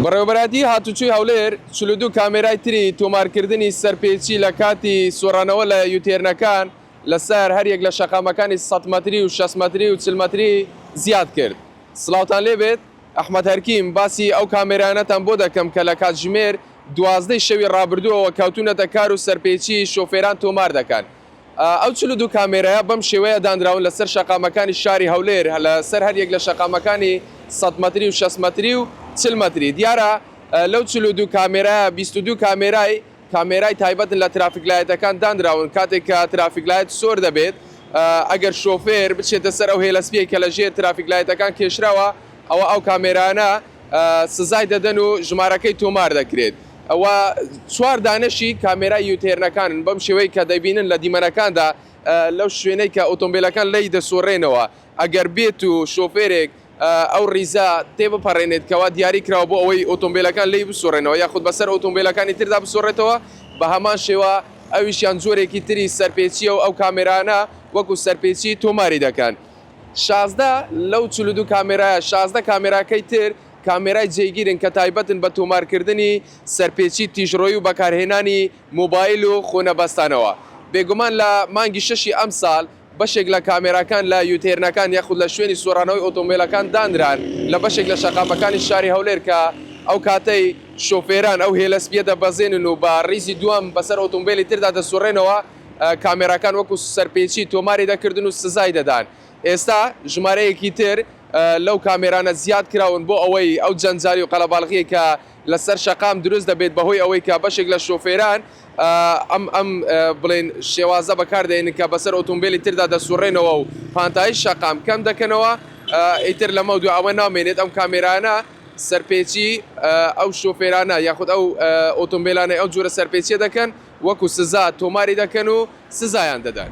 بەڕێوەبەرایەتیی هاتووچووی هەولێر چل و دوو کامێرای تری تۆمارکردنی سەرپێچی لە کاتی سوڕانەوە لە یوتێرنەکان لە سەر هەر یەک لە شەقامەکانی سەد مەتری و شەست مەتری و چل مەتری زیاد کرد. سڵاوتان لێ بێت، ئەحمەد هەرکیم، باسی ئەو کامێرایانەتان بۆ دەکەم کە لە کاتژمێر دوازدە ی شەوی ڕابردووەوە کەوتوونەتە کار و سەرپێچیی شۆفێران تۆمار دەکەن. ئەو چل و دوو کامێرایە بەم شێوەیە دانراون لەسەر شەقامەکانی شاری هەولێر لەسەر هەریەک لە شەقامەکانی سەد مەتری و شەست مەتری و چل مەتری دیارە لەو چل و دوو کامێرایە بیست و دوو کامێرای کامێرای تایبەتن لە ترافیکلایەتەکان دانراون کاتێک کە ترافیکلایەت سۆر دەبێت ئەگەر شۆفێر بچێتە سەر ئەو هێلە سپیەی کە لە ژێر ترافیکلایەتەکان کێشراوە ئەوە ئەو کامێرانە سزای دەدەن و ژمارەکەی تۆمار دەکرێت و چوار دانەشی کامێرای یوتێرنەکانن بەم شێوەی کە دەبینن لە دیمەنەکاندا لەو شوێنەی کە ئۆتۆمبیلەکان لێی دەسوڕێنەوە ئەگەر بێت و شۆفێرێک ئەو ڕیزە تێبپەڕێنێت کەوا دیاری کراوە بۆ ئەوەی ئۆتۆمبیلەکان لێی بسوڕێنەوە یاخود بەسەر ئۆتۆمبیلەکانی تردا بسوڕێتەوە بە هەمان شێوە ئەویشیان جۆرێکی تری سەرپێچیە و ئەو کامێرانە وەکو سەرپێچی تۆماری دەکەن. شازدە لەو چل و دوو کامێرایە، شازدە کامێراکەی تر کامێرای جێگیرن کە تایبەتن بە تۆمارکردنی سەرپێچی تیژڕۆیی و بەکارهێنانی مۆبایل و خۆنەبەستانەوە. بێگومان لە مانگی شەشی ئەمساڵ بەشێک لە کامێراکان لە یوتێرنەکان یاخود لە شوێنی سوڕانەوەی ئۆتۆمبێلەکان دانران لە بەشێک لە شەقامەکانی شاری هەولێر کە ئەو کاتەی شۆفێران ئەو هێلە سپیە دەبەزێنن و بە ڕیزی دووەم بەسەر ئۆتۆمبێلی تردا دەسوڕێنەوە کامێراکان وەکو سەرپێچی تۆماری دەکردن و سزای دەدان، ئێستا ژمارەیەکی تر لەو کامێرانە زیاد کراون بۆ ئەوەی ئەو جەنجالی و قەلەباڵغیەی کە لەسەر شەقام دروست دەبێت بەهۆی ئەوەی کە بەشێک لە شۆفێران ئەم ئەم بڵێن شێوازە بەکار دێنن کە بەسەر ئۆتۆمبیلی تردا دەسوڕێنەوە و پانتایی شەقام کەم دەکەنەوە ئیتر لەمە دو ئەوە نامێنێت ئەم کامێرانە سەرپێچی ئەو شۆفێرانە یاخود ئەو ئۆتۆمبیلانەی ئەو جۆرە سەرپێچیە دەکەن وەکو سزا تۆماری دەکەن و سزایان دەدەن.